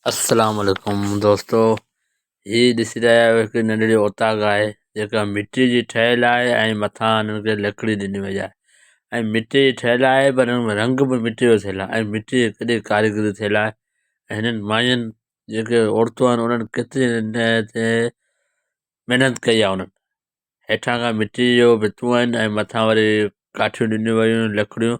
السلام عليڪم دوستو هي ڏسي رهيا آهيو هڪ ننڍڙي اوطاق آهي جيڪا مٽي جي ٺهيل آهي ۽ مٿان هن کي لڪڙي ڏني وئي آهي ۽ مٽي جي ٺهيل آهي پر هن ۾ رنگ به مٽي جو ٿيل آهي ۽ مٽي جي ڪڏي ڪاريگري ٿيل آهي ۽ هنن ماين جيڪي عورتون آهن انهن ڪيتري تي محنت ڪئي آهي انهن هيٺان کان مٽي جو ڀتيون آهن ۽ مٿان وري ڪاٺيون ڏنيون ويون آهن لڪڙيون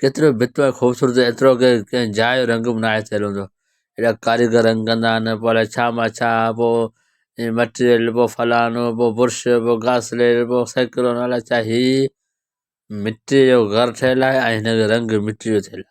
ڪيترو به بھتر ۽ خوبصورت ھجي ايترو ڪي ڪنھن جاء جو رنگ به ناھي ٿيل ھوندو ايڏا ڪاريگر رنگ ڪندا آھن پوء الاء ڇا مع ڇا پوء ھي مٽيريل پوء فلانو پوء برش پوء گاسليٽ پوء سيڪلون الاء ڇا ھي مٽيء جو گھر ٺھيل آھي ۽ ھن جو رنگ مٽيء جو ٿيل آھي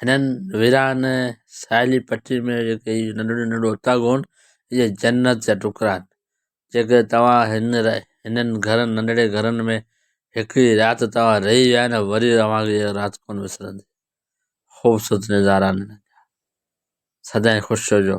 هنن ويران ساحلي پٽي ۾ جيڪي هي ننڍڙا ننڍڙا اوطاق هئا اهي جنت جا ٽڪرا آهن جيڪي توهان هن هنن گهرن ننڍڙي گهرن ۾ هڪڙي رات توهان رهي ويا نه وري اوهان کي اها رات ڪونه وسرندي خوبصورت نظارا آهن سدائين خوش رهجو